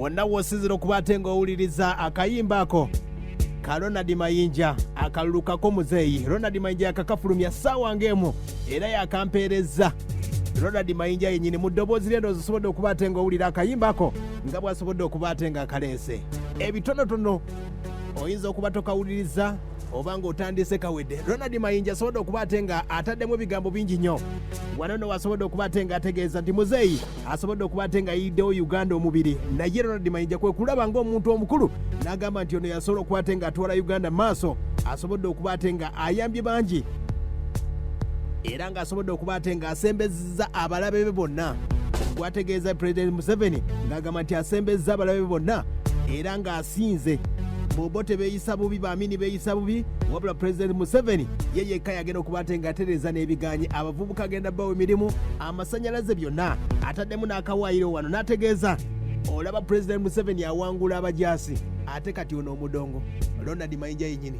wonna w'osinzira okuba ate ng'owuliriza akayimba ako ka ronald mayinja akalulukako muzeeyi ronald mayinja yakakafulumya ssaawa ng'emu era yakampeerezza ronald mayinja yennyini mu ddoboozi lye ndoozi osobodde okuba ate ng'owulira akayimba ako nga bw'asobodde okuba ate ng'akaleese ebitonotono oyinza okuba tokawuliriza oba ng'otandise kawedde ronald mayinja asobodde okuba ate nga ataddemu ebigambo bingi nnyo wano no wasobodde okuba ate nga ategeeza nti muzeeyi asobodde okuba ate nga yiddewo uganda omubiri naye ronald mayinja kwe kulaba ng'omuntu omukulu n'agamba nti ono yasobola okuba ate nga atwala uganda maaso asobodde okuba ate nga ayambye bangi era ng'asobodde okuba ate ng'asembeza asembezza abalabe be bonna gwategeeza pulezidenti museveni ng'agamba nti asembezza abalabe be bonna era ng'asinze bobo tebeeyisa bubi baamini beeyisa bubi wabula pulezidenti museveni ye yekka yagenda okuba ate ng'atereeza n'ebigaanyi abavubuka agenda bawa emirimu amasanyalaze byonna ataddemu n'akawaayiro wano n'ategeeza olaba pulezidenti museveni awangula abajaasi ate kati ono omudongo ronald mayinja yenyini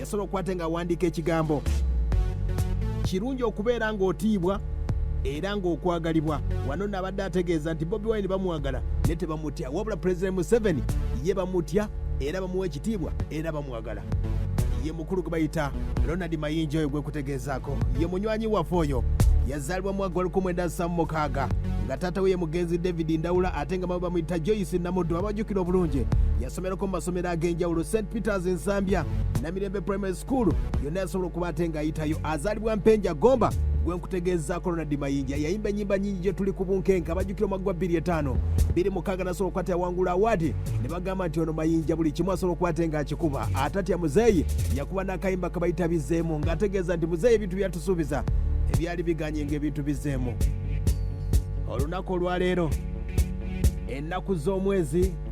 yasala okuba ate ng'awandiika ekigambo kirungi okubeera ng'otiibwa era ng'okwagalibwa wano naabadde ategeeza nti bobi wine bamwagala ne tebamutya wabula pulezidenti museveni ye bamutya era bamuwa ekitiibwa era bamwagala ye mukulu gwe bayita ronald mayinja oyo gwekutegeezaako ye munywanyi waffe oyo yazaalibwa mu mwaka gwalkumwenda samu mukaaga nga taata we ye mugenzi david ndawula ate nga mama bamuyita joyce namuddu abajjukira obulungi someroko mu masomero ag'enjawulo st peters ensambya namirembe primary school yonna yasobola okuba ate ng'ayitayo azaalibwa mpenja gomba gwe nkutegeezaako ronald mayinja yayimba ennyimba nnyingi gye tuli ku bunkenke abajjukira omwaggwa 25 biri mukaaga nasobola okukwata yawangula awaadi ne bagamba nti ono mayinja buli kimu asobola okuba ate ng'akikuba atatya muzeeyi yakuba n'akayimba kabayita bizeemu ng'ategeeza nti muzeeyi ebintu byatusuubiza ebyali biganye ng'ebintu bizeemu olunaku olwaleero ennaku z'omwezi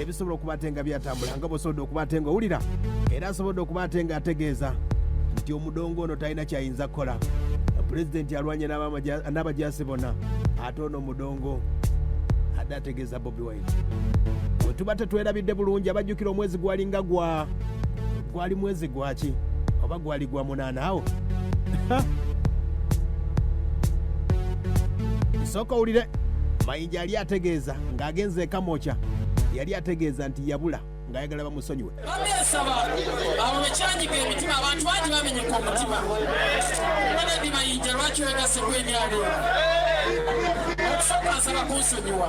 ebisobola okuba ate nga byatambula nga bwosobodde okuba ate nga owulira era asobodde okuba ate nga ategeeza nti omudongo ono talina kyayinza kukola pulezidenti alwanye n'abajaasi bona ate ono omudongo adde ategeeza bobi wine wetuba tetwerabidde bulungi abajjukira omwezi gwalinga gwa gwali mwezi gwaki oba gwali gwa munaana awo sooka owulire Kasaija yali ategeeza ng'agenze e Kamokya yali ategeeza nti yabula ng'ayagala bamusonyiwe. Bamyesaba abo bekyanyiga emitima abantu bangi bamenyeka omutima banadi mayinja lwaki wegaseko emyalo okusooka nsaba kunsonyiwa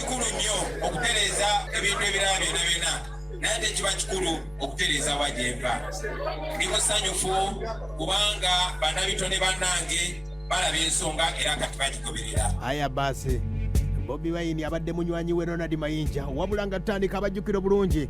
kikulu nnyo okutereeza ebintu ebirala byona byona naye ate kiba kikulu okutereeza wagyempa ndi musanyufu kubanga banabitone banange balaba ensonga era kati bagigoberera aya basi bobi wayini abadde munywanyi we ronald mayinja wabula nga tutandika abajjukira obulungi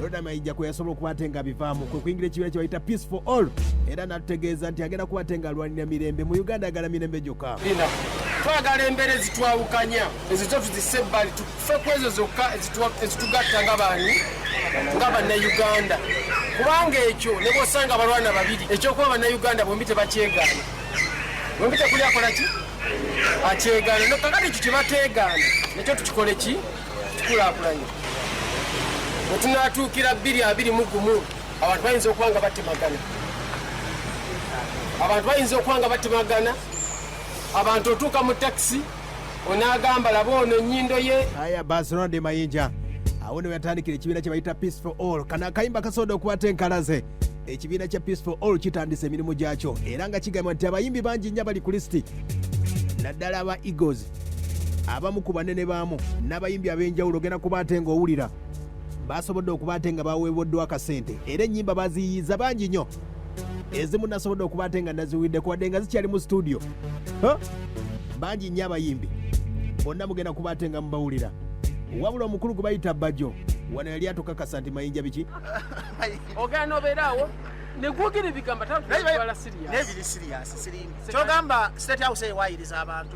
Loda Maija kwe yasobola okuba ate nga bivaamu kwe kuyingira ekibiina kye bayita Peace for All era n'atutegeeza nti agenda kuba ate nga alwanira mirembe mu Uganda ayagala mirembe gyokka twagala embeera ezitwawukanya ezo zo tuzise ebbali tufe ku ezo zokka ezitugatta nga baani nga bannayuganda kubanga ekyo ne bwosanga abalwana babiri ekyokuba bannayuganda bombi tebakyegaana bombi tekuli akola ki akyegaana nokakati ekyo kyebateegaana nekyo tukikole ki tukulaakulanye bwe tunaatuukira bbiri abiri mu gumu abantu bayinza okuba nga batemagana abantu bayinza okuba nga batemagana abantu otuuka mu takisi onaagamba laba ono ennyindo ye aya barcelona de mayinja awo ne weyatandikira ekibiina kye bayita peace for all kana akayimba kasoboda okukwata enkalaze ekibiina kya peace for all kitandisa emirimu gyakyo era nga kigamba nti abayimbi bangi nnyo abali ku lisiti naddala aba eagles abamu ku banene baamu n'abayimbi ab'enjawulo ogenda kuba ate ng'owulira baasobodde okuba ate nga baweeboddwa akasente era ennyimba baziyiyiza bangi nnyo ezimu nasobodde okuba ate nga naziwulidde kuwadde nga zikyali mu situdiyo bangi nnyo abayimbi bonna mugenda kuba ate nga mubawulira wabula omukulu gwe bayita bbajo wano yali atukakasa nti mayinja biki ogana obeeraawo negwogera ebigambo tatwala siriyasi kyogamba state house ewayiriza abantu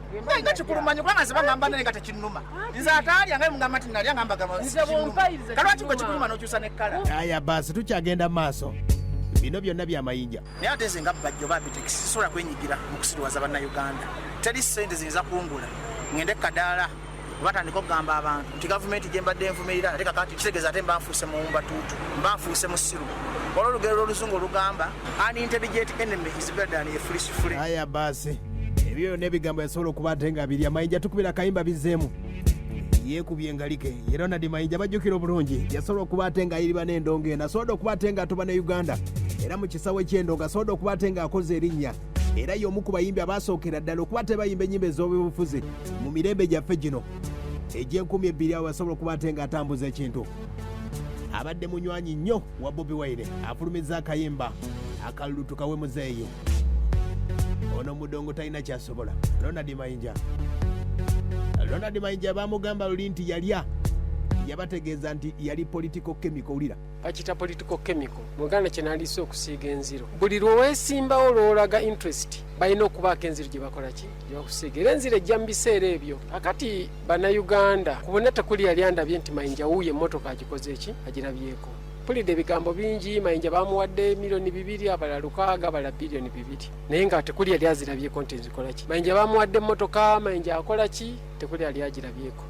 nga kikulumanye kubanga nze bagamba naye nga tekinnuma nze ataalya nga mugamba nti nalya nga mbagamba kalwaki gwe kikuluma n'okyusa ne kkala aya baasi tukyagenda mu maaso bino byonna byamayinja naye ate nze nga bajjo babitekisi sisobola kwenyigira mu kusiriwaza bannayuganda teri ssente ziyinza kungula ngende kadaala batandika okugamba abantu nti gavumenti gyembadde envumirira ate kakati kitegeeza ate mbanfuuse muwumba tuutu mbanfuuse musiru olwo olugero lwoluzungu olugamba an intelligent enemy is better than a foolish free aya baasi ebyo byonna ebigambo yasobola okuba ate nga biri amayinja tukubira akayimba bizeemu yeekubye engalike ye ronald mayinja bajjukira obulungi yasobola okuba ate nga ayiriba n'endongo eno asobodde okuba ate nga atuba ne uganda era mu kisawo eky'endongo asobodde okuba ate nga akoze erinnya era y'omu ku bayimbi abaasookera ddala okuba tebayimba ennyimba ez'obufuzi mu mirembe gyaffe gino egy'enkumi ebbiri awo basobola okuba ate ng'atambuza ekintu abadde munywanyi nnyo wa bobi waire afulumiza akayimba akalulu tukawe muzeeyo ono mudongo talina kyasobola ronald mayinja ronald mayinja bamugamba luli nti yalya yabategeeza nti yali political chemical wulira bakita political chemical muganda kyenalisa okusiiga enziro buli lwewesimbawo lwolaga interest balina okubaako enziro gyebakolaki gyebakusiiga era enziro ejja mu biseera ebyo akati banauganda kubona tekuli yali andabye nti mayinja wuuyo emotoka agikoze eki agirabyeko mpulidde ebigambo bingi mayinja bamuwadde miliyoni bibiri abala lukaaga abala biliyoni bibiri naye nga tekuli yali azirabyeko nti nzikolaki mayinja bamuwadde emotoka mayinja akolaki tekuli yali agirabyeko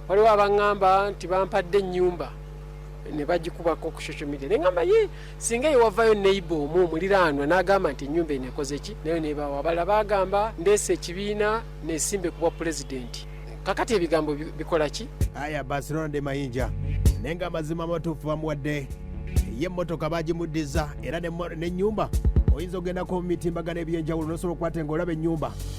waliwo abaŋŋamba nti bampadde ennyumba ne bagikubako ku social media ne ngamba ye singa yewavayo neighbor omu omuliraanwa n'agamba nti ennyumba eno ekoze ki nayo nebawa abalala bagamba ndeesa ekibiina nesimbe kubwa pulezidenti kakati ebigambo bikola ki aya barcelona de mayinja naye nga amazima amatuufu bamuwadde ye emmotoka bagimuddiza era n'ennyumba oyinza okugendako mu mitimbagano eby'enjawulo n'osobola okukwata nga olaba ennyumba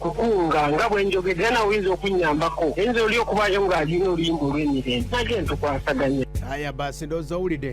kukunga nga bwe njogedde era nawe oyinza okunnyambako ayinza oli okubaayo ng'alina oluyimba olw'emirembe nage ntukwasaganya aya basi ndowooza owulidde